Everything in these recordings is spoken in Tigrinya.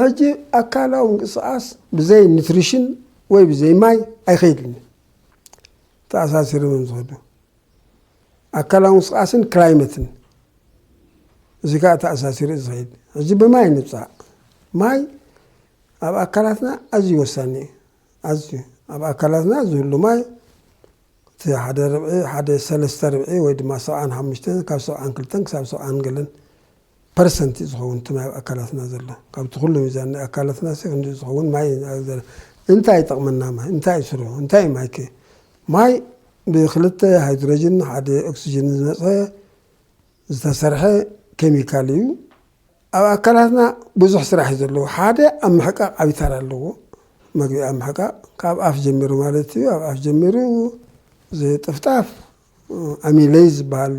ሕጂ ኣካላዊ ምንቅስቓስ ብዘይ ኒትሪሽን ወይ ብዘይ ማይ ኣይኸይድን ተኣሳሲሮም እዮም ዝኸዱ ኣካላዊ ምንቅስቓስን ክላይመትን እዚ ከዓ ተኣሳሲሩ እዩ ዝኸይድ ሕጂ ብማይ ንብፃእ ማይ ኣብ ኣካላትና ኣዝዩ ወሳኒ እዩ ኣዝዩ ኣብ ኣካላትና ዝህሉ ማይ እቲ ሓደ ርብዒ ሓደ ሰለስተ ርብዒ ወይ ድማ ሰብዓን ሓሙሽተን ካብ ሰብዓን ክልተን ክሳብ ሰብዓን ገለን ፐርሰንት እዩ ዝኸውን እቲ ማይ ኣብ ኣካላትና ዘሎ ካብቲ ኩሉ ሚዛን ናይ ኣካላትና ሲ ክንድኡ ዝኸውን ማይ እንታይ ይጠቕመና ማይ እንታይ እዩ ስርሑ እንታይ እዩ ማይከ ማይ ብክልተ ሃይድሮጅን ሓደ ኦክስጅን ዝመፀ ዝተሰርሐ ኬሚካል እዩ ኣብ ኣካላትና ብዙሕ ስራሕ እዩ ዘለዎ ሓደ ኣብ ምሕቃቕ ዓብዪ ተራ ኣለዎ መግቢ ኣብ ምሕቃቕ ካብ ኣፍ ጀሚሩ ማለት እዩ ኣብ ኣፍ ጀሚሩ ዝጥፍጣፍ ኣሚለይዝ ዝበሃል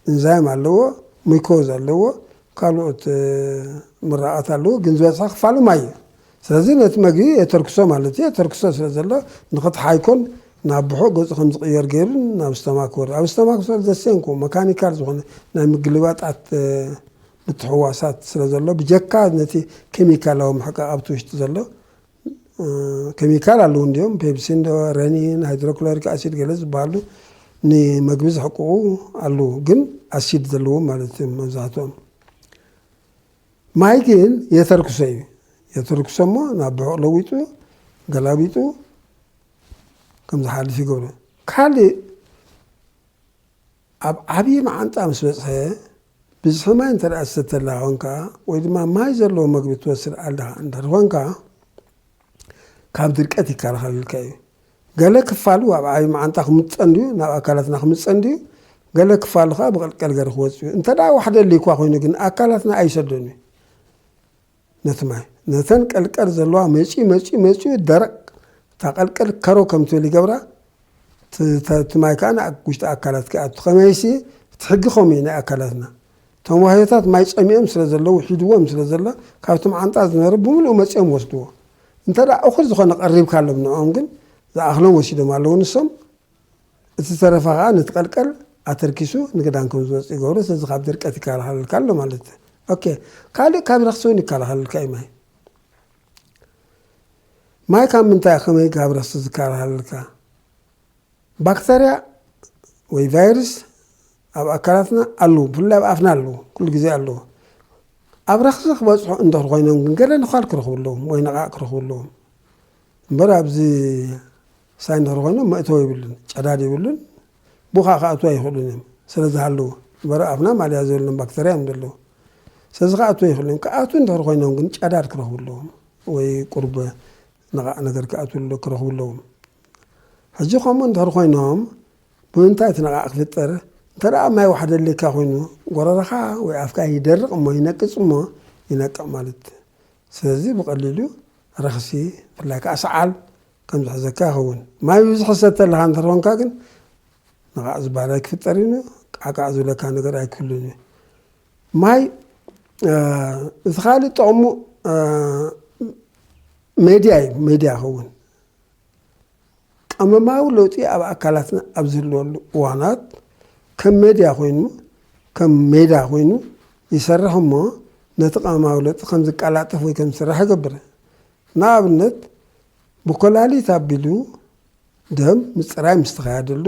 እንዛይም ኣለዎ፣ ሙኮዝ ኣለዎ፣ ካልኦት ምራቓት ኣለዎ፣ ግን ዝበዝሐ ክፋሉ ማይ እዩ። ስለዚ ነቲ መግቢ የተርክሶ ማለት እዩ። የተርክሶ ስለ ዘሎ ንክትሓይኮን ናብ ብሑቕ ገጹ ከም ዝቕየር ገይሩ ናብ ስተማክ ክወርድ ኣብ ስተማክ ክወርድ ዘሴንኮ መካኒካል ዝኾነ ናይ ምግልባጣት ምትሕዋሳት ስለ ዘሎ ብጀካ ነቲ ኬሚካላዊ ምሕቃቕ ኣብቲ ውሽጢ ዘሎ ኬሚካል ኣለዉ እንዲዮም ፔፕሲን ረኒን ሃይድሮክሎሪክ ኣሲድ ገለ ዝበሃሉ ንመግቢ ዝሕቅቑ ኣለዉ ግን ኣሲድ ዘለዎም ማለት እዮም መብዛሕትኦም ማይ ግን የተርክሶ እዩ የተርክሶ እሞ ናብ ብሑቕ ለዊጡ ገላቢጡ ከም ዝሓልፍ ይገብሮ ካልእ ኣብ ዓብዪ መዓንጣ ምስ በጽሐ፣ ብዝሒ ማይ እንተ ደኣ ትሰቲ ኣለኻ ኾንካ ወይ ድማ ማይ ዘለዎ መግቢ ትወስድ ኣለኻ እንተ ኾንካ፣ ካብ ድርቀት ይከላኸለልካ እዩ። ገለ ክፋሉ ኣብ ዓብዪ መዓንጣ ክምጠን ድዩ ናብ ኣካላትና ክምጸን ድዩ፣ ገለ ክፋሉ ከኣ ብቐልቀል ገሪ ክወጽእ እዩ። እንተ ደኣ ዋሕዲ ኣልዩካ ኮይኑ ግን ኣካላትና ኣይሰዶን እዩ። ነቲ ማይ ነተን ቀልቀል ዘለዋ መጺኡ መጺኡ መጺኡ ደረቕ እታ ቀልቀል ከረው ከም ትብል ይገብራ እቲ ማይ ከዓ ናብ ውሽጢ ኣካላት ክኣቱ ከመይሲ እቲ ሕጊ ከምኡ እዩ ናይ ኣካላትና እቶም ዋህዮታት ማይ ጸሚኦም ስለ ዘለዉ ሒድዎም ስለ ዘሎ ካብቶም ዓንጣ ዝነበረ ብምልኡ መጺኦም ወስድዎ እንተ እኹል ዝኾነ ቀሪብካሎም ንኦም ግን ዝኣኽሎም ወሲዶም ኣለዉ ንሶም እቲ ዝተረፈ ከኣ ነቲ ቀልቀል ኣተርኪሱ ንግዳን ከም ዝወጽእ ይገብሮ ስለዚ ካብ ድርቀት ይከላኸለልካ ኣሎ ማለት እዩ ኦኬ ካልእ ካብ ረክሲ እውን ይከላኸለልካ እዩ ማይ ማይ ካብ ምንታይ ከመይ ካብ ረክሲ ዝከላኸለልካ ባክተርያ ወይ ቫይረስ ኣብ ኣካላትና ኣለዉ ብፍላይ ኣብ ኣፍና ኣለዉ ኩሉ ግዜ ኣለዉ ኣብ ረክሲ ክበፅሑ እንድሕር ኮይኖም ግን ገለ ንኳል ክረኽቡ ኣለዎም ወይ ነቓእ ክረኽቡ ኣለዎም እምበር ኣብዚ ሳይ እንድሕር ኾይኖም መእተዊ የብሉን፣ ጨዳድ የብሉን፣ ብኡ ኸኣ ክኣትዉ ኣይኽእሉን እዮም፣ ስለ ዝሃለዉ። እምበረ ኣብና ማልያ ዘይብሎም ባክተርያ እዮም ዘለዉ። ስለዚ ክኣትዉ ኣይኽእሉን እዮም። ክኣትዉ እንድሕር ኾይኖም ግን ጨዳድ ክረኽቡ ኣለዎም ወይ ቁሩብ ነቓዕ ነገር ክኣትዉ ክረኽቡ ኣለዎም። ሕጂ ከምኡ እንድሕር ኾይኖም ብምንታይ እቲ ነቓዕ ክፍጠር? እንተ ደኣ ማይ ዋሕዲ ኣድልየካ ኮይኑ ጎረረኻ ወይ ኣፍካ ይደርቕ እሞ ይነቅጽ እሞ ይነቅዕ ማለት እዩ። ስለዚ ብቐሊሉ ረኽሲ ብፍላይ ከኣ ሰዓል ከም ዝሕዘካ ይኸውን። ማይ ብብዝሒ ትሰቲ ኣለኻ እንተ ኾንካ ግን ንቓዕ ዝበሃል ኣይክፍጠርን እዩ፣ ቃዕቃዕ ዝብለካ ነገር ኣይክህሉን እዩ። ማይ እቲ ካልእ ጥቕሙ ሜድያ እዩ፣ ሜድያ ይኸውን። ቀመማዊ ለውጢ ኣብ ኣካላትና ኣብ ዝህልወሉ እዋናት ከም ሜድያ ኮይኑ ከም ሜዳ ኮይኑ ይሰርሕ እሞ ነቲ ቀመማዊ ለውጢ ከም ዝቀላጠፍ ወይ ከም ዝስራሕ ይገብር። ንኣብነት ብኮላሊት ኣቢሉ ደም ምፅራይ ምስ ተኻየደሉ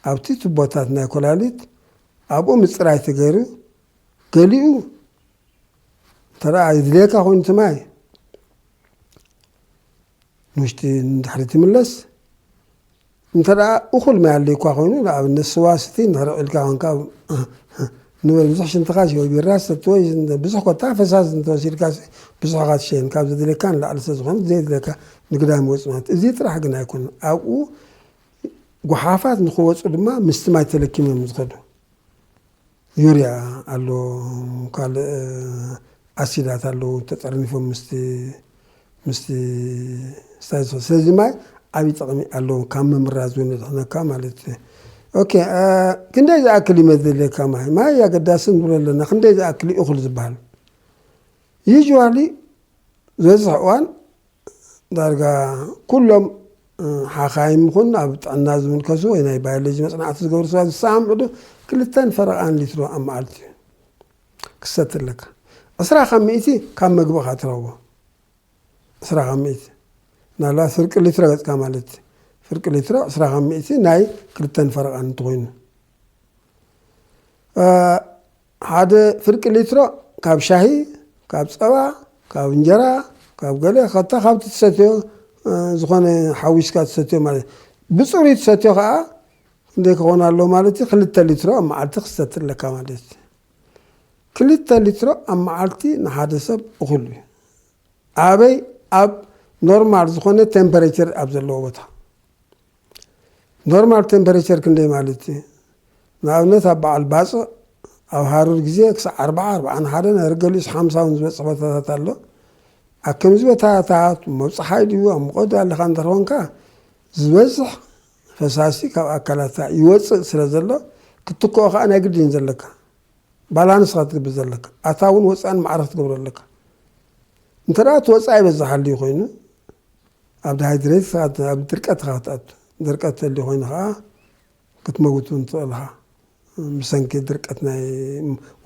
ኣብቲ ቱቦታት ናይ ኮላሊት ኣብኡ ምፅራይ ተገይሩ ገሊኡ እንተደኣ ይድልየካ ኮይኑ እቲ ማይ ንውሽጢ ንድሕሪት ይምለስ፣ እንተደኣ እኹል ማይ ኣልዩካ ኮይኑ ንኣብነት ስዋ ስትይ እንድሕር ኢልካ ኮንካ ንበል ብዙሕ ሽንትኻሲ ወይ ቢራ ሰቲ ወይ ብዙሕ ኮታ ፈሳሲ እንተወሲድካሲ ብዙሕ ኢኻ ትሸይን ካብ ዘድልየካ ንላዕሊ ስለዝኾነ ዘየድልየካ ንግዳም ይወጽእ ማለት እዚ ጥራሕ ግን ኣይኮነን ኣብኡ ጎሓፋት ንክወጹ ድማ ምስቲ ማይ ተለኪሞም እዮም ዝኸዱ ዩርያ ኣሎ ካልእ ኣሲዳት ኣለዉ ተጠርኒፎም ምስቲ ምስቲ ስታይል ስለዚ ማይ ዓብዪ ጥቕሚ ኣለዎም ካብ ምምራዝ እውን የድሕነካ ማለት እዩ ኦኬ ክንደይ ዝኣክል እዩ መዘለካ ማይ ማይ ኣገዳሲ ንብሎ ኣለና ክንደይ ዝኣክል እዩ እኹል ዝበሃል ዩዥዋሊ ዝበዝሕ እዋን ዳርጋ ኩሎም ሓኻይም ይኹን ኣብ ጥዕና ዝምልከሱ ወይ ናይ ባዮሎጂ መፅናዕቲ ዝገብሩ ሰባት ዝሰማምዑ ዶ ክልተን ፈረቓን ሊትሮ ኣብ መዓልቲ እዩ ክሰቲ ኣለካ ዕስራ ካብ ሚእቲ ካብ መግብኻ ትረክቦ ዕስራ ካብ ሚእቲ ምናልባት ፍርቂ ሊትሮ ገፅካ ማለት እዩ ፍርቂ ሊትሮ ዕስራ ካብ ሚእቲ ናይ ክልተን ፈረቓን እንትኮይኑ ሓደ ፍርቂ ሊትሮ ካብ ሻሂ፣ ካብ ጸባ፣ ካብ እንጀራ፣ ካብ ገለ ከታ ካብቲ ትሰትዮ ዝኾነ ሓዊስካ ትሰትዮ ማለት ብጽሩይ ትሰትዮ ከኣ ክንደይ ክኾን ኣለዎ ማለት እዩ ክልተ ሊትሮ ኣብ መዓልቲ ክሰቲ ኣለካ ማለት እዩ። ክልተ ሊትሮ ኣብ መዓልቲ ንሓደ ሰብ እኹል እዩ። ኣበይ ኣብ ኖርማል ዝኾነ ቴምፐሬቸር ኣብ ዘለዎ ቦታ ኖርማል ቴምፐረቸር ክንደይ ማለት እዩ? ንኣብነት ኣብ በዓል ባጽዕ ኣብ ሃሩር ግዜ ክሳዕ ኣርብዓ፣ ኣርብዓን ሓደን ኣረ ገሊኡስ ሓምሳ እውን ዝበጽሕ ቦታታት ኣሎ። ኣብ ከምዚ ቦታታት ሞብ ጸሓይ ድዩ ኣብ ሙቐት ድዩ ኣለኻ እንድሕር ኾንካ ዝበዝሕ ፈሳሲ ካብ ኣካላትካ ይወጽእ ስለ ዘሎ ክትትክኦ ከኣ ናይ ግድን እዩ ዘለካ። ባላንስ ኢኻ ትገብር ዘለካ። ኣታውን ወጻእን ማዕረ ክትገብሮ ኣለካ። እንተ እቲ ወጻኢ በዛ ሃልዩ ኮይኑ ኣብ ዳሃይድረይት ስርዓት ኣብ ድርቀት ኢኻ ክትኣቱ። ድርቀት ተልዩ ኮይኑ ከኣ ክትመውት ውን ትኽእል ኢኻ ብሰንኪ ድርቀት ናይ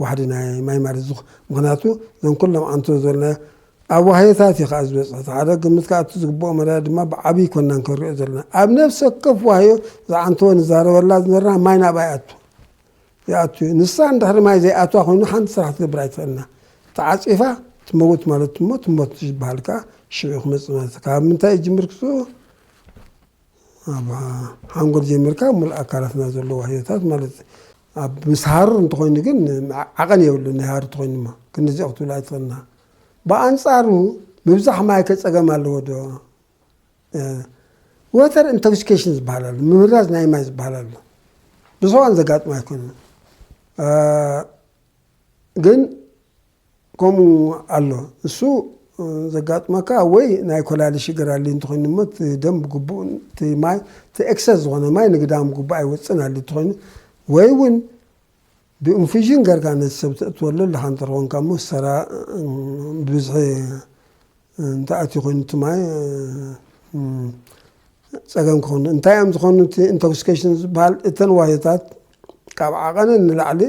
ዋሕዲ ናይ ማይ ማለት እዚ ምኽንያቱ እዞም ኩሎም ኣንቶ ዝበልናዮ ኣብ ዋህዮታት እዩ ከኣ ዝበጽሑ እቲ ሓደ ግምት ከኣ እቲ ዝግብኦ መዳይ ድማ ብዓቢ ኣይኮናን ክንሪኦ ዘለና ኣብ ነፍሲ ወከፍ ዋህዮ እዛ ኣንቶ ንዛረበላ ዝነበርና ማይ ናብኣ ይኣቱ ይኣቱ እዩ ንሳ እንድሕሪ ማይ ዘይኣትዋ ኮይኑ ሓንቲ ስራሕ ክትገብር ኣይትኽእልና ተዓፂፋ ትመውት ማለት እሞ ትሞት ዝበሃል ከዓ ሽዑ ክመፅእ ማለት ካብ ምንታይ ይጅምር ክሱ ኣብ ሓንጎል ጀሚርካ ሙሉእ ኣካላትና ዘለዎ ህይወታት ማለት ኣብ ምስ ሃሩር እንተኮይኑ ግን ዓቐን የብሉ ናይ ሃሩ ተኮይኑ ሞ ክንዚኦ ክትብሉ ኣይትኽእልና ብኣንፃሩ ምብዛሕ ማይ ከፀገም ኣለዎ ዶ ወተር ኢንቶክሲኬሽን ዝበሃል ኣሎ፣ ምምራዝ ናይ ማይ ዝበሃል ኣሎ። ብሰዋን ዘጋጥሞ ኣይኮነ ግን ከምኡ ኣሎ። እሱ ዘጋጥመካ ወይ ናይ ኮላሊ ሽግር ኣሊ እንትኾይኑ እሞ ደም ብግቡእ እቲ ማይ እቲ ኤክሰስ ዝኾነ ማይ ንግዳም ግቡእ ኣይወፅን ኣሊ እንትኾይኑ ወይ እውን ብእንፊዥን ገርካ ነቲ ሰብ ተእትወሉ ኣለካ እንተኾንካ እሞ ሰራ ብብዝሒ እንተኣትዩ ኮይኑ እቲ ማይ ፀገም ክኾኑ እንታይ እዮም ዝኾኑ እቲ ኢንቶክሲኬሽን ዝበሃል እተን ዋህዮታት ካብ ዓቐነ ንላዕሊ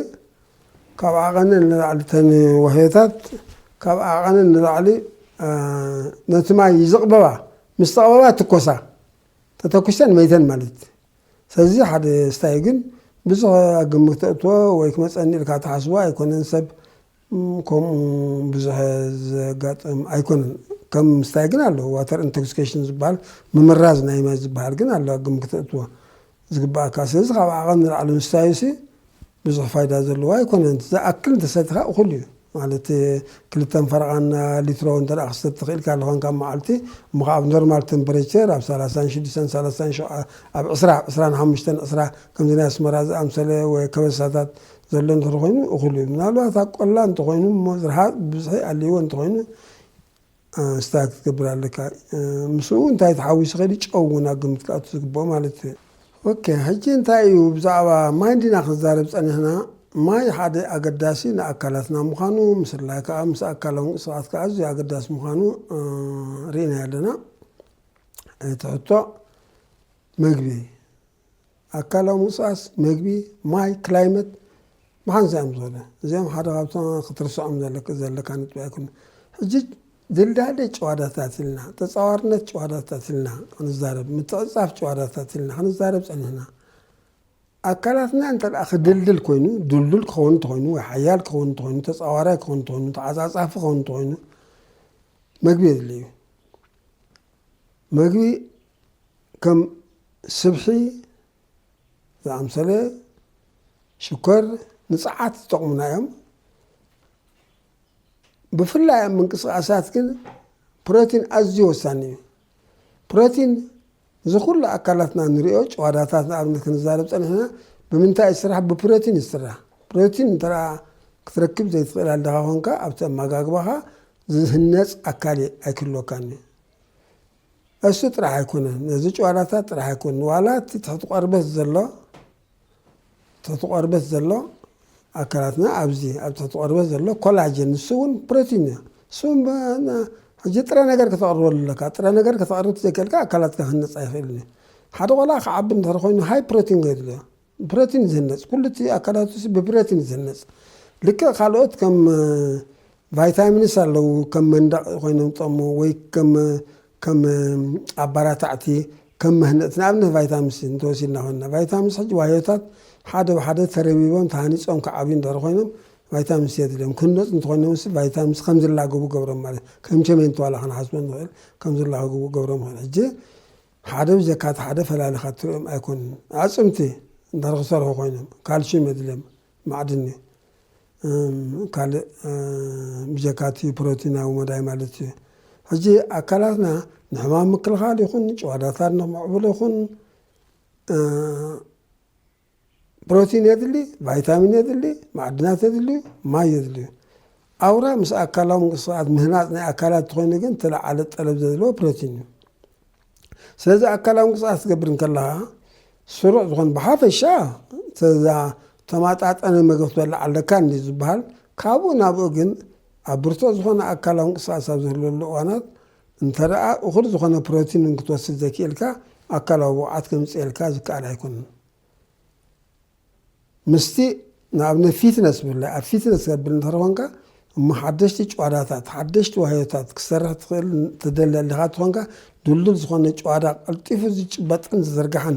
ካብ ዓቐነ ንላዕሊ እተን ዋህዮታት ካብ ዓቐነ ንላዕሊ ነቲ ማይ ይዝቕበባ ምስ ተቕበባ ትኮሳ ተተኩሰን መይተን ማለት እዩ ሰዚ ሓደ ስታይ ግን ብዝኸ ኣብ ግምት ተእትዎ ወይ ክመጸኒ ኢልካ ትሓስቦ ኣይኮነን ሰብ ከምኡ ብዝኸ ዘጋጥም ኣይኮነን ከም ስታይ ግን ኣሎ ዋተር ኢንቶክስኬሽን ዝበሃል ምምራዝ ናይ ማይ ዝበሃል ግን ኣሎ ኣብ ግምት ክተእትዎ ዝግባኣካ ስለዚ ካብ ዓቐን ንላዕሊ ምስታዩሲ ብዙሕ ፋይዳ ዘለዎ ኣይኮነን ዝኣክል እንተሰቲኻ እኹል እዩ ማለት ክልተን ፈረቓን ሊትሮ እንተ ክሰቲ ክኢልካ ኣለኻን ካብ መዓልቲ እሞ ከዓ ኣብ ኖርማል ተምፕሬቸር ኣብ ሰላሳን ሽዱሽተን ሰላሳን ሸውዓ ኣብ ዕስራ ዕስራን ሓሙሽተን ዕስራ ከምዚ ናይ ኣስመራ ዝኣምሰለ ወይ ከበሳታት ዘሎ እንተኾይኑ እኹል እዩ ምናልባት ኣብ ቆላ እንተኾይኑ እሞ ዝርሓቕ ብብዝሒ ኣልይዎ እንተኾይኑ ኣንስታ ክትገብር ኣለካ ምስኡ እውን እንታይ ተሓዊሱ ከይዲ ጨው እውን ኣብ ግምት ክኣቱ ዝግብኦ ማለት እዩ። ኦኬ ሕጂ እንታይ እዩ ብዛዕባ ማይ እንዲና ክንዛረብ ጸኒሕና ማይ ሓደ ኣገዳሲ ንኣካላትና ምዃኑ ምስላይ ከኣ ምስ ኣካላዊ ምንቅስቓስ ከኣ ኣዝዩ ኣገዳሲ ምዃኑ ርኢናዮ ኣለና እቲ ሕቶ መግቢ ኣካላዊ ምንቅስቓስ፣ መግቢ፣ ማይ፣ ክላይመት፣ መሓንሳ እዮም ዝኾነ። እዚኦም ሓደ ካብቶም ክትርስዖም ዘለክ ዘለካ ነጥቢ ኣይኮኑን። ሕጂ ድልዳለ ጭዋዳታት ኢልና፣ ተጻዋርነት ጭዋዳታት ኢልና ክንዛረብ፣ ምትዕጽጻፍ ጭዋዳታት ኢልና ክንዛረብ ጸኒሕና። ኣካላትና እንተ ደኣ ክድልድል ኮይኑ፣ ድልዱል ክኸውን እንተኾይኑ፣ ወይ ሓያል ክኸውን እንተኾይኑ፣ ተጻዋራይ ክኸውን እንተኾይኑ፣ ተዓጻጻፊ ክኸውን እንተኾይኑ፣ መግቢ የድልዩ። መግቢ ከም ስብሒ ዝኣምሰለ ሽኮር ንፀዓት ዝጠቕሙና እዮም። ብፍላይ ኣብ ምንቅስቓሳት ግን ፕሮቲን ኣዝዩ ወሳኒ እዩ። ፕሮቲን እዚ ኩሉ ኣካላትና ንሪኦ ጨዋዳታት ንኣብነት ክንዛረብ ፀኒሕና ብምንታይ ይስራሕ? ብፕሮቲን ይስራሕ። ፕሮቲን እንተ ክትረክብ ዘይትኽእል ኣለኻ ኮንካ ኣብቲ ኣመጋግባኻ ዝህነፅ ኣካል ኣይክህልወካን እዩ። እሱ ጥራሕ ኣይኮነን ነዚ ጭዋዳታት ጥራሕ ኣይኮን ዋላ እቲ ትሕቲ ቆርበት ዘሎ ትሕቲ ቆርበት ዘሎ ኣካላትና ኣብዚ ኣብ ትሕቲ ቆርበት ዘሎ ኮላጅን ንሱ እውን ፕሮቲን እዩ እሱ ሕጂ ጥረ ነገር ከተቕርበሉ ኣለካ ጥረ ነገር ከተቕርብ ዘይክእልካ ኣካላትካ ክንነፃ ይኽእል እዩ ሓደ ቆልዓ ክዓቢ እንድሕር ኮይኑ ሃይ ፕሮቲን ገድልዮ ብረት እዩ ዝህነፅ ኩሉ እቲ ኣካላቱ ብብረት እዩ ዝህነፅ ልክዕ ካልኦት ከም ቫይታሚንስ ኣለዉ ከም መንደቅ ኮይኖም ዝጠቅሙ ወይ ከም ከም ኣባራታዕቲ ከም መህነፅቲ ንኣብነት ቫይታሚንስ እንተወሲድና ኮይና ቫይታሚንስ ሕጂ ዋዮታት ሓደ ብሓደ ተረቢቦም ተሃኒፆም ክዓብዩ እንድሕር ኮይኖም ቫይታሚን ሲ የድልዮም ክህነፁ እንተኮይኖም ሲ ቫይታሚን ሲ ከም ዝላገቡ ገብሮም ማለት ከም ቸሜንቶ ዋላ ክንሓስቦ ንኽእል ከም ዝላገቡ ገብሮም ሕጂ ሓደ ብጀካ እቲ ሓደ ፈላሊኻ እትርእዮም ኣይኮኑን። ኣዕጽምቲ እንድሕር ክሰርሑ ኮይኖም ካልሽም የድልዮም፣ ማዕድን እዩ። ካልእ ብጀካ እቲ ፕሮቲናዊ መዳይ ማለት እዩ። ሕጂ ኣካላትና ንሕማም ምክልኻል ይኹን ጭዋዳታት ንምዕቡል ይኹን ፕሮቲን የድሊ፣ ቫይታሚን የድሊ፣ ማዕድናት የድልዩ፣ ማይ የድልዩ። ኣውራ ምስ ኣካላዊ ምንቅስቓት ምህናፅ ናይ ኣካላት እንተኾይኑ ግን ተለዓለ ጠለብ ዘድልዎ ፕሮቲን እዩ። ስለዚ ኣካላዊ ምንቅስቓስ ትገብር እንከለኻ ስሩዕ ዝኾን ብሓፈሻ ተዛ ተማጣጠነ መገብ ትበልዕ ኣለካ እንዲ ዝበሃል ካብኡ ናብኡ ግን ኣብ ብርቱዕ ዝኾነ ኣካላዊ ምንቅስቓስ ኣብ ዝህልወሉ እዋናት እንተደኣ እኹል ዝኾነ ፕሮቲን እንክትወስድ ዘይክኢልካ ኣካላዊ ብቕዓት ከምጽኤልካ ዝከኣል ኣይኮነን። ምስቲ ንኣብነት ፊትነስ ብላይ ኣብ ፊትነስ ከብል እንተር ኮንካ እሞ ሓደሽቲ ጨዋዳታት ሓደሽቲ ዋህዮታት ክሰርሕ ትኽእል ተደሊ ኣሊኻ ትኾንካ ድልዱል ዝኾነ ጨዋዳ ቀልጢፉ ዝጭበጥን ዝዝርጋሕን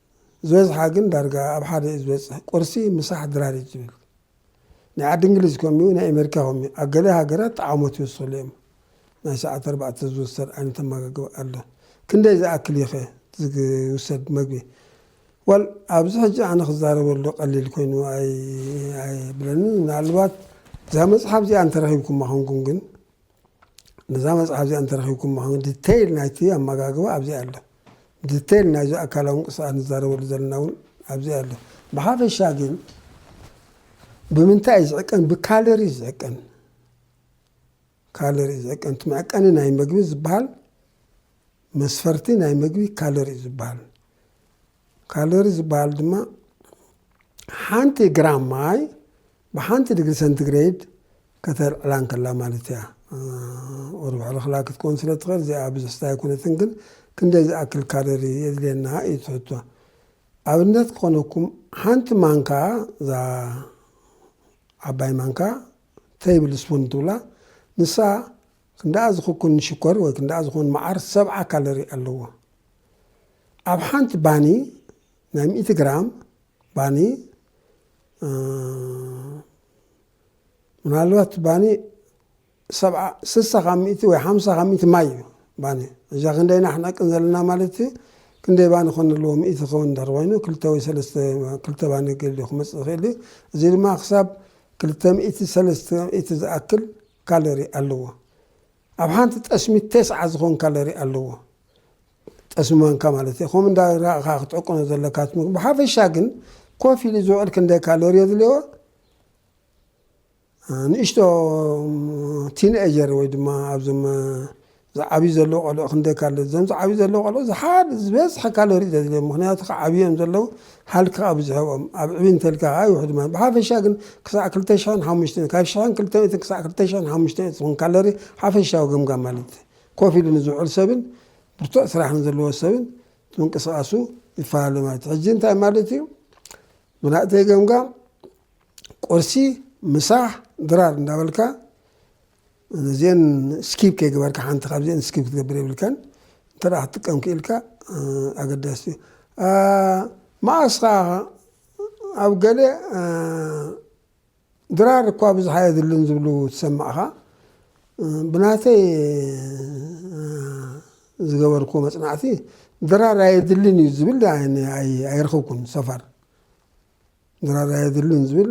ዝበዝሓ ግን ዳርጋ ኣብ ሓደ እዩ ዝበጽሕ፣ ቁርሲ፣ ምሳሕ፣ ድራር እዩ ዝብል። ናይ ዓዲ እንግሊዝ ከምኡ እዩ፣ ናይ ኣሜሪካ ከምኡ እዩ። ኣብ ገለ ሃገራት ጠዓሞት ይውስኽሉ እዮም። ናይ ሰዓት ኣርባዕተ ዝውሰድ ዓይነት ኣመጋግባ ኣሎ። ክንደይ ዝኣክል እዩኸ ዝውሰድ መግቢ? ወል ኣብዚ ሕጂ ኣነ ክዛረበሉ ቀሊል ኮይኑ ኣይብለንን። ምናልባት እዛ መጽሓፍ እዚኣ እንተረኺብኩማ ኮንኩም ግን ነዛ መጽሓፍ እዚኣ እንተረኺብኩማ ከ ዲተይል ናይቲ ኣመጋግባ ኣብዚኣ ኣሎ ዲተይል ናይዚ ኣካላዊ ምንቅስቃስ ንዛረበሉ ዘለና እውን ኣብዚኣ ኣሎ ብሓፈሻ ግን ብምንታይ እዩ ዝዕቀን ብካለሪ እዩ ዝዕቀን ካለሪ እዩ ዝዕቀን እቲ መዕቀኒ ናይ መግቢ ዝበሃል መስፈርቲ ናይ ምግቢ ካሎሪ እዩ ዝበሃል። ካሎሪ ዝበሃል ድማ ሓንቲ ግራም ማይ ብሓንቲ ድግሪ ሰንቲግሬድ ከተልዕላ እንከላ ማለት እያ። ወርባሕ ልኽላ ክትከውን ስለ ትኽእል እዚኣ ብዙሕ ስታ ኣይኮነትን፣ ግን ክንደይ ዝኣክል ካሎሪ የድልየና እዩ ትሕቶ። ኣብነት ክኾነኩም ሓንቲ ማንካ እዛ ዓባይ ማንካ ተይብል ስፑን ትብላ ንሳ ክንደኣ ዝኽኩን ሽኮር ወይ ክንደኣ ዝኾን መዓር ሰብዓ ካሎሪ ኣለዎ። ኣብ ሓንቲ ባኒ ናይ ሚእቲ ግራም ባኒ ምናልባት ባኒ ሰብዓ ስሳ ካብ ሚእቲ ወይ ሓምሳ ካብ ሚእቲ ማይ እዩ ባኒ እዛ ክንደይ ናሕነቅን ዘለና ማለት እዩ ክንደይ ባኒ ኮን ኣለዎ ሚእቲ ከውን እንድሕር ኮይኑ ክልተ ወይ ሰለስተ ክልተ ባኒ ገሊኡ ክመፅእ ይኽእል እዩ እዚ ድማ ክሳብ ክልተ ሚእቲ ሰለስተ ሚእቲ ዝኣክል ካሎሪ ኣለዎ። ኣብ ሓንቲ ጠስሚ ተስዓ ዝኸውን ካሎሪ ኣለዎ። ጠስሚ ማንካ ማለት እየ። ከምኡ እንዳ ረኣኻ ክትዕቅኖ ዘለካ እቲ ምግቢ። ብሓፈሻ ግን ኮፍ ኢሉ ዝውዕል ክንደይ ካሎሪ የድልዮ? ንእሽቶ ቲንኤጀር ወይ ድማ ኣብዞም ዝዓብዩ ዘለዉ ቆልዑ ክንደይ ካለ እዞም ዝዓብዩ ዘለዉ ቆልዑ ዝሓ ዝበዝሐ ካሎሪ ዘድልዮም ምክንያቱ ክዓብዮም ዘለዉ ሃልኪ ከኣ ብዙሕ ኣብኦም ኣብ ዕብይ እንተልካ ከኣ ይውሕድ ማለት ብሓፈሻ ግን ክሳዕ ክልተ ሽሕን ሓሙሽተን ካብ ሽሕን ክልተ ሚእትን ክሳዕ ክልተ ሽሕን ሓሙሽተ ሚእቲ ዝኹን ካሎሪ ሓፈሻዊ ገምጋም ማለት እዩ ኮፍ ኢሉ ንዝውዕል ሰብን ብርቱዕ ስራሕ ንዘለዎ ሰብን ምንቅስቃሱ ይፈላለ ማለት እዩ ሕጂ እንታይ ማለት እዩ ብናእተይ ገምጋም ቁርሲ ምሳሕ ድራር እንዳበልካ ነዚኤን ስኪፕ ከይገበርካ ሓንቲ ካብዚኤን ስኪፕ ክትገብር የብልካን እንተ ክትጥቀም ክኢልካ ኣገዳሲ እዩ መኣስ ከዓ ኣብ ገለ ድራር እኳ ብዙሓ የድልን ዝብሉ ትሰማዕኻ ብናተይ ዝገበርኩ መፅናዕቲ ድራር ኣየድልን እዩ ዝብል ኣይረኸብኩን ሰፋር ድራር ኣየድልን ዝብል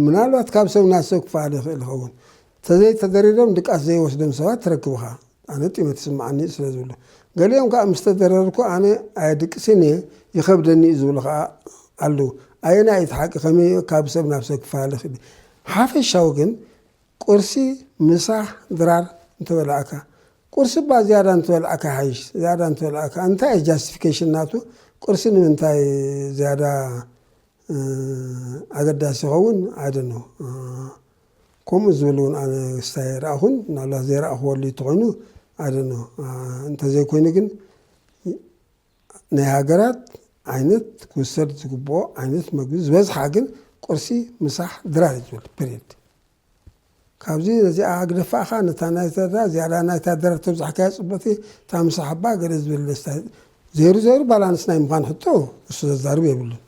ምናልባት ካብ ሰብ ናብ ሰብ ክፈኣል ይኽእል ይኸውን ተዘይተደሪሮም ድቃስ ዘይወስዶም ሰባት ትረክብ ኢኻ ኣነ ጢመት ይስምዓኒ ስለ ዝብሉ ገሊኦም ከዓ ምስ ተደረርኩ ኣነ ኣየድቅስን እየ ይኸብደኒ እዩ ዝብሉ ከዓ ኣለዉ ኣየናይ እዩ እቲ ሓቂ ከመይ ካብ ሰብ ናብ ሰብ ክፈኣል ይኽእል ሓፈሻዊ ግን ቁርሲ ምሳሕ ድራር እንተበላዕካ ቁርሲ እባ ዝያዳ እንተበላዕካ ይሓይሽ ዝያዳ እንተበላዕካ እንታይ እዩ ጃስቲፊኬሽን ናቱ ቁርሲ ንምንታይ ዝያዳ ኣገዳሲ ይኸውን ኣይደኖ ከምኡ ዝብል እውን ኣነ ክስታይ ኣይረኣኹን ምናልባት ዘይረኣኽወሉ እንተኾይኑ ኣይደኖ እንተዘይኮይኑ ግን ናይ ሃገራት ዓይነት ክውሰድ ዝግብኦ ዓይነት መግቢ ዝበዝሓ ግን ቁርሲ ምሳሕ ድራር እዩ ዝብል ፔሬድ ካብዚ ነዚኣ ኣግደፋ ከኣ ነታ ናይ ተድላ ዝያዳ ናይ ታደራ ተብዛሕካያ ጽብቅቲ እታ ምስ ኣሓባ ገለ ዝብል ደስታ ዘይሩ ዘይሩ ባላንስ ናይ ምዃን ሕቶ እሱ ዘዛርብ የብሉን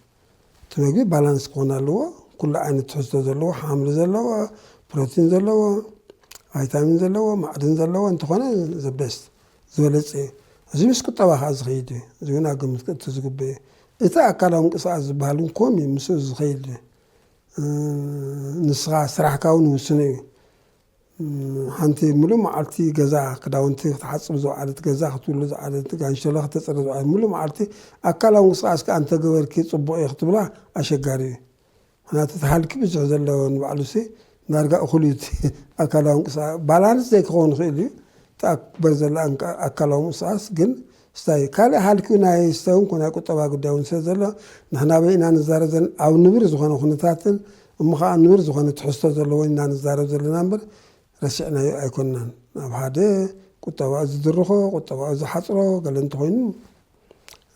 እቲ መግቢ ባላንስ ክኾን ኣለዎ ኩሉ ዓይነት ትሕዝቶ ዘለዎ ሓምሊ ዘለዎ ፕሮቲን ዘለዎ ቫይታሚን ዘለዎ ማዕድን ዘለዎ እንተኾነ ዘበስት ዝበለጸ እዩ እዚ ምስ ቁጠባ ከኣ ዝኸይድ እዩ እዚ እውን ኣብ ግምት ክእቱ ዝግብእ እዩ እቲ ኣካላዊ ምንቅስቃስ ዝበሃል እውን ኮም እዩ ምስኡ ዝኸይድ እዩ ንስኻ ስራሕካ እውን ውስነ እዩ። ሓንቲ ሙሉእ መዓልቲ ገዛ ክዳውንቲ ክትሓፅብ ዝወዓለት ገዛ ክትብሉ ዝዓለት ጋንሸሎ ክተፅሪ ዝዓለት ሙሉእ መዓልቲ ኣካላዊ ምንቅስቃስ ከዓ እንተገበርኪ ፅቡቅ እዩ ክትብላ ኣሸጋሪ እዩ። ምክንያቱ እቲ ሃልኪ ብዙሕ ዘለዎ ንባዕሉ ሲ ዳርጋ እኩል እዩ እቲ ኣካላዊ ምንቅስቃስ ባላንስ ዘይክኸውን ይኽእል እዩ እቲ ኣክበር ዘላ ኣካላዊ ምንቅስቃስ ግን ስታይ ካልእ ሃልኪ ናይ ስተውን ኮነ ናይ ቁጠባ ጉዳይ እውን ስለ ዘሎ ንሕና ኣበይ ኢና ንዛረብ ዘለና ኣብ ንብር ዝኾነ ኩነታትን እሞ ኸኣ ንብር ዝኾነ ትሕዝቶ ዘለዎን ኢና ንዛረብ ዘለና እምበር ረሲዕናዮ ኣይኮናን ናብ ሓደ ቁጠባኡ ዝድርኾ ቁጠባኡ ዝሓጽሮ ገለ እንተኾይኑ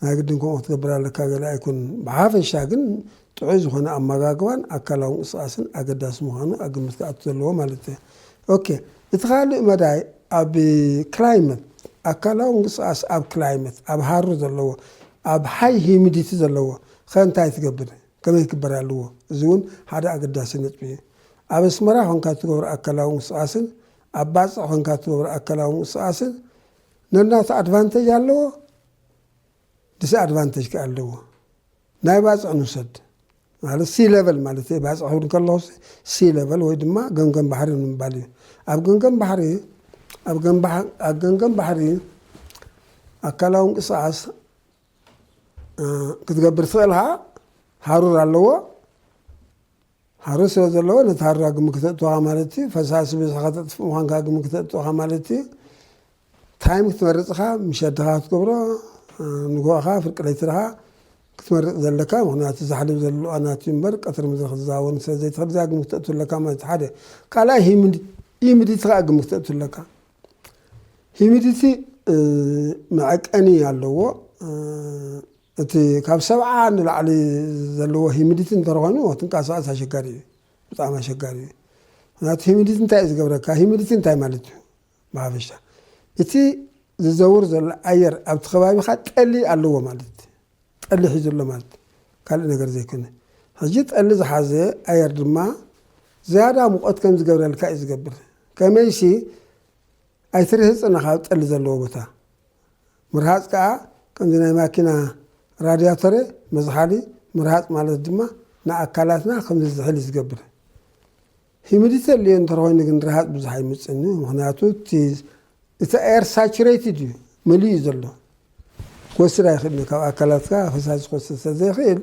ናይ ግድን ከምኡ ክትገብር ኣለካ ገለ ኣይኮንን ብሓፈሻ ግን ጥዑይ ዝኾነ ኣመጋግባን ኣካላዊ ምንቅስቃስን ኣገዳሲ ምዃኑ ኣብ ግምት ክኣቱ ዘለዎ ማለት እየ። ኦኬ እቲ ካልእ መዳይ ኣብ ክላይመት ኣካላዊ ምንቅስቃስ ኣብ ክላይመት ኣብ ሃሩ ዘለዎ ኣብ ሃይ ሂሚዲቲ ዘለዎ ከ እንታይ ትገብር ከመይ ክግበር ኣለዎ እዚ እውን ሓደ ኣገዳሲ ነጥቢ እዩ። ኣብ ኣስመራ ኮንካ እትገብሮ ኣካላዊ ምንቅስቃስን ኣብ ባጽዕ ኮንካ እትገብሮ ኣካላዊ ምንቅስቃስን ነናቱ ኣድቫንተጅ ኣለዎ ዲስ ኣድቫንተጅ ከ ኣለዎ። ናይ ባጽዕ ንውሰድ ማለት ሲ ለቨል ማለት እዩ። ባጽዕ ክብል ከለኹ ሲ ለቨል ወይ ድማ ገምገም ባሕሪ ንምባል እዩ። ኣብ ገምገም ባሕሪ ኣብ ገምገም ባሕሪ ኣካላዊ ምንቅስቓስ ክትገብር ትኽእል ሃሩር ኣለዎ። ሃሩር ስለ ዘለዎ ነቲ ሃሩር ኣብ ግምት ክተእቱ ኢኻ ማለት እዩ። ፈሳሲ በዚሑ ከተጥፍእ ምዃንካ ኣብ ግምት ክተእቱ ኢኻ ማለት እዩ። ታይም ክትመርጽ ኢኻ፣ ምሸት ድኻ ክትገብሮ ንግሆ ኢኻ ፍርቂ ለይቲ ድኻ ክትመርጽ ዘለካ ምክንያቱ ዛሕልብ ዘሎ ኣናት እዩ እምበር ቀትሪ ምድሪ ክትዛወር ስለ ዘይትኽእል እዚኣ ግምት ክትእቱ ኣለካ ማለት እዩ ሓደ ካልኣይ ሂሚዲቲ ከዓ ግምት ክትእቱ ኣለካ ሂሚዲቲ መዐቀኒ ኣለዎ እቲ ካብ ሰብዓ ንላዕሊ ዘለዎ ሂሚዲቲ እንተ ኮይኑ ትንቃሳቀስ ኣሸጋሪ እዩ ብጣዕሚ ኣሸጋሪ እዩ ምክንያቱ ሂሚዲቲ እንታይ እዩ ዝገብረካ ሂሚዲቲ እንታይ ማለት እዩ ብሓፈሻ እቲ ዝዘውር ዘሎ ኣየር ኣብቲ ከባቢካ ጠሊ ኣለዎ ማለት ጠሊ ሒዙ ኣሎ ማለት ካልእ ነገር ዘይኮነ ሕጂ ጠሊ ዝሓዘ ኣየር ድማ ዝያዳ ሙቐት ከም ዝገብረልካ እዩ ዝገብር ከመይሲ ኣይትርህፅን ካብ ጠሊ ዘለዎ ቦታ ምርሃጽ ከኣ ከምዚ ናይ ማኪና ራድያቶረ መዝሓሊ ምርሃጽ ማለት ድማ ንኣካላትና ከምዚ ዝሕሊ ዝገብረ ሂሚዲቲ ኣልዮ እንተርኾይኑ ግን ርሃጽ ብዙሕ ኣይምጽእን እዩ ምክንያቱ እቲ እቲ ኣየር ሳቹሬትድ እዩ መሊኡ ዘሎ ክወስድ ኣይክእልን ካብ ኣካላትካ ፈሳሲ ክወስድ ስለዘይክእል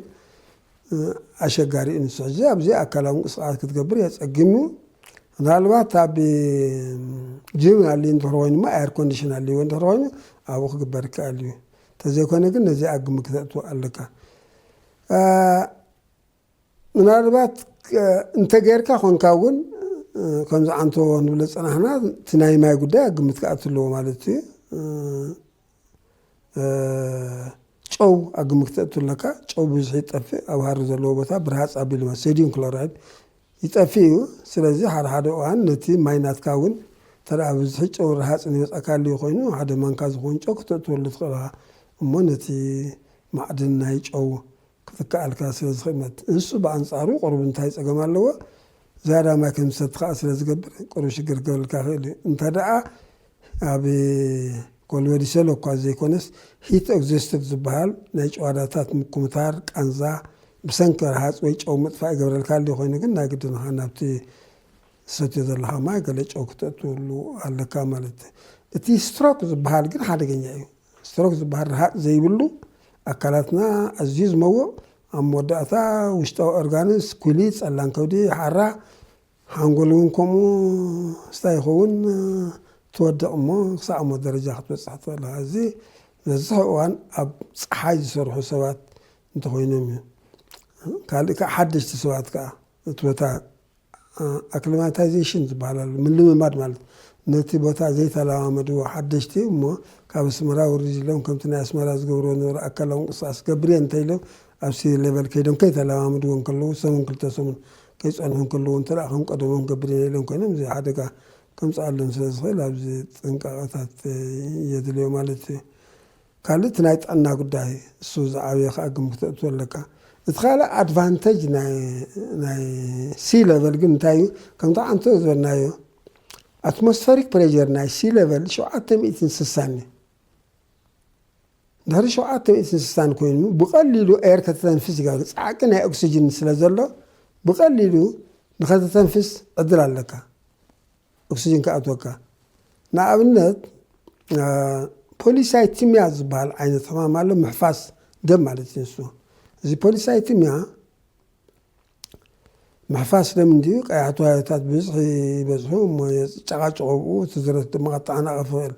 ኣሸጋሪ እዩ ንሱ ሕጂ ኣብዚ ኣካላዊ ምንቅስቃስ ክትገብር የፀግም እዩ ምናልባት ኣብ ጅም ኣልዩ እንድሕር ኮይኑ እሞ ኣየር ኮንዲሽን ኣልዎ እንድሕር ኮይኑ ኣብኡ ክግበር ይከኣል እዩ እንተዘይኮነ ግን ነዚ ኣብ ግምት ክተእትዎ ኣለካ ምናልባት እንተጌርካ ኮንካ እውን ከምዚ ዓንቶ ንብሎ ፀናሕና እቲ ናይ ማይ ጉዳይ ኣብ ግምት ክኣቱ ኣለዎ ማለት እዩ ጨው ኣብ ግምት ክተእቱ ኣለካ ጨው ብብዝሒ ይጠፍእ ኣብ ሃሪ ዘለዎ ቦታ ብርሃፅ ኣቢሉ ማለት ሶዲየም ክሎራይድ ይጠፍእ እዩ ስለዚ ሓደ ሓደ እዋን ነቲ ማይ ናትካ እውን እንተ ብብዝሒ ጨው ረሃፅ ዝመፅኣካ ኣልዩ ኮይኑ ሓደ ማንካ ዝኸውን ጨው ክተእትወሉ ትኽእል እሞ ነቲ ማዕድን ናይ ጨው ክትከኣልካ ስለ ዝኽእመት ንሱ ብኣንጻሩ ቁሩብ እንታይ ጸገም ኣለዎ ዝያዳ ማይ ከም ዝሰቲ ከኣ ስለ ዝገብር ቁሩብ ሽግር ክገብረልካ ይኽእል እዩ እንተ ደኣ ኣብ ኮልበዲ ሰሎ እኳ ዘይኮነስ ሂት ኦግዘስቶቭ ዝበሃል ናይ ጭዋዳታት ምኩምታር ቃንዛ ብሰንኪ ረሃጽ ወይ ጨው ምጥፋእ ይገብረልካ ኣሎ ኮይኑ ግን ናይ ግድን ኸኣ ናብቲ ዝሰትዮ ዘለኻ ማይ ገለ ጨው ክተእትወሉ ኣለካ ማለት እቲ ስትሮክ ዝበሃል ግን ሓደገኛ እዩ ስትሮክ ዝበሃል ረሃፅ ዘይብሉ ኣካላትና ኣዝዩ ዝመውቕ ኣብ መወዳእታ ውሽጣዊ ኦርጋንስ፣ ኩሊት፣ ጸላም ከብዲ፣ ሓራ፣ ሓንጎል እውን ከምኡ ስታይ ይኸውን ትወድቕ እሞ ክሳዕ ሞት ደረጃ ክትበጽሕ ትኽእል ኢኻ። እዚ መብዝሕኡ እዋን ኣብ ጸሓይ ዝሰርሑ ሰባት እንተኾይኖም እዩ። ካልእ ከዓ ሓደሽቲ ሰባት ከዓ እቲ ቦታ ኣክሊማታይዜሽን ዝበሃል ኣሎ፣ ምልምማድ ማለት ነቲ ቦታ ዘይተለማመድዎ ሓደሽቲ እሞ ካብ ኣስመራ ውርድ ኢሎም ከምቲ ናይ ኣስመራ ዝገብርዎ ዝነበሩ ኣካላዊ ምንቅስቓስ ክገብር እየ እንተኢሎም ኣብ ሲ ሌቨል ከይዶም ከይተለማመድዎ እንከለዉ ሰሙን ክልተ ሰሙን ከይጸንሑ እንከለዉ እንተ ከም ቀደሞም ክገብር እየ ኢሎም ኮይኖም እዚ ሓደጋ ከምጽኣሎም ስለ ዝኽእል ኣብዚ ጥንቃቐታት የድልዮ ማለት እዩ። ካልእ እቲ ናይ ጥዕና ጉዳይ እሱ ዝዓበየ ከኣ ግምት ክተእቱ ኣለካ። እቲ ካልእ ኣድቫንተጅ ናይ ሲ ለቨል ግን እንታይ እዩ ከምቲ ዓንተ ዝበልናዮ ኣትሞስፈሪክ ፕሬዠር ናይ ሲ ለቨል ሸውዓተ ሚእትን ስሳን እዩ። ድሕሪ ሸውዓተ ሚእትን ስሳን ኮይኑ ብቐሊሉ ኤር ከተተንፍስ ይገብር ጻዕቂ ናይ ኦክስጅን ስለ ዘሎ ብቐሊሉ ንኸተተንፍስ ዕድል ኣለካ። ኦክስጅን ክኣትወካ ንኣብነት ፖሊሳይቲምያ ዝበሃል ዓይነት ሕማም ኣሎ ምሕፋስ ደም ማለት እዩ ንሱ እዚ ፖሊሳይቲምያ ምሕፋስ ደም እንድዩ ቀያሕ ተዋዮታት ብዝሒ ይበዝሑ እሞ ጨቃጭቆ ብኡ እቲ ዝረት ድማ ከተዓናቕፍ ይኽእል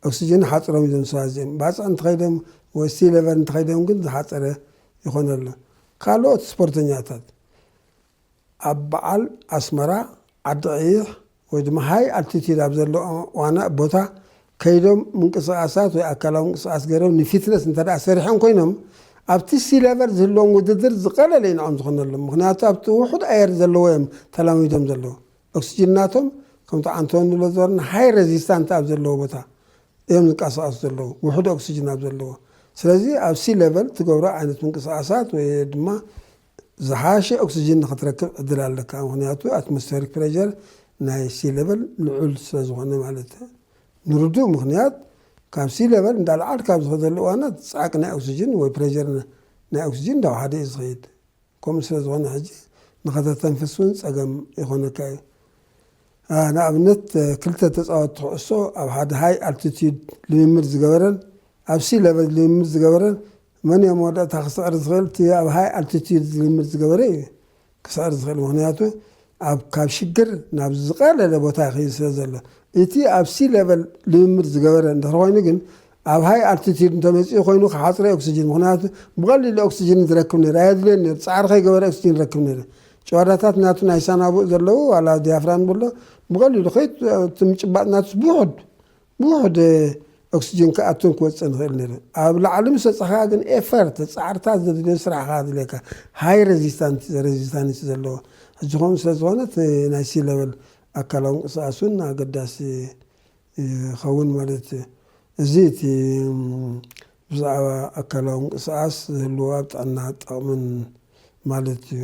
ኦክስጅን ሓፅሮም እዮም ሰባት እዚኦም ባፅዕ እንተኸይዶም ወይ ሲ ሌቨል እንተኸይዶም ግን ዝሓፀረ ይኾነሉ ካልኦት ስፖርተኛታት ኣብ በዓል ኣስመራ፣ ዓዲ ቐይሕ ወይ ድማ ሃይ ኣልቲቲዩድ ኣብ ዘሎ ዋና ቦታ ከይዶም ምንቅስቓሳት ወይ ኣካላዊ ምንቅስቓስ ገይሮም ንፊትነስ እንተድኣ ሰሪሖም ኮይኖም ኣብቲ ሲለቨር ዝህልዎም ውድድር ዝቐለለ እዩ ንዖም ዝኾነሎም ምኽንያቱ ኣብቲ ውሑድ ኣየር ዘለዎ እዮም ተላሚዶም ዘለዉ ኦክስጅን ናቶም ከምቲ ዓንቶ ንብሎ ዝበርና ሃይ ረዚስታንት ኣብ ዘለዎ ቦታ እዮም ዝንቀሳቐሱ ዘለዉ ውሑድ ኦክስጅን ኣብ ዘለዎ ስለዚ ኣብ ሲለቨል ትገብሮ ዓይነት ምንቅስቓሳት ወይ ድማ ዝሓሸ ኦክስጅን ንክትረክብ ዕድል ኣለካ ምክንያቱ ኣትሞስፈሪክ ፕረዠር ናይ ሲ ለቨል ልዑል ስለዝኾነ ማለት ንርዱእ ምክንያት ካብ ሲ ለቨል እንዳልዓልካ ኣብ ዝኸደሉ እዋናት ጻዕቂ ናይ ኦክስጅን ወይ ፕረዠር ናይ ኦክስጅን እንዳውሓደ እዩ ዝኸይድ ከምኡ ስለዝኾነ ሕጂ ንኸተተንፍስ እውን ጸገም ይኾነካ እዩ ንኣብነት ክልተ ተጻወትቲ ኩዕሶ ኣብ ሓደ ሃይ ኣልቲቲዩድ ልምምድ ዝገበረን ኣብ ሲ ለቨል ልምምድ ዝገበረን መን እዮ መወዳእታ ክስዕር ዝኽእል እቲ ኣብ ሃይ ኣልቲቲዩድ ልምምድ ዝገበረ እዩ ክስዕር ዝኽእል ምኽንያቱ ኣብ ካብ ሽግር ናብ ዝቐለለ ቦታ ይኸይድ ስለ ዘሎ እቲ ኣብ ሲ ሌቨል ልምምድ ዝገበረ እንድሕር ኮይኑ ግን ኣብ ሃይ ኣልቲቲዩድ እንተመፂኡ ኮይኑ ክሓፅረ ኦክሲጅን ምኽንያቱ ብቐሊሉ ኦክሲጅን ዝረክብ ነይሩ ኣየድልዮን ነይሩ ፃዕሪ ከይገበረ ኦክሲጅን ይረክብ ነይሩ ጨዋዳታት ናቱ ናይ ሳናቡእ ዘለዉ ዋላ ዲያፍራም ብሎ ብቐሊሉ ከይት እቲ ምጭባጥ ናቱስ ብውሑድ ብውሑድ ኦክስጅን ክኣቱን ክወጽእን ይኽእል ነይሩ። ኣብ ላዕሊ ምስ በጻሕካ ግን ኤፈርት፣ ጻዕርታት ዘድልዮ ስራሕ ከኣ ኣድልየካ። ሃይ ረዚስታንት፣ ረዚስታንስ ዘለዎ። ሕጂ ከምኡ ስለ ዝኾነ እቲ ናይ ሲ ለቨል ኣካላዊ ምንቅስቓስ እውን ኣገዳሲ ይኸውን ማለት እዩ። እዚ እቲ ብዛዕባ ኣካላዊ ምንቅስቓስ ዝህልዎ ኣብ ጥዕና ጠቕምን ማለት እዩ።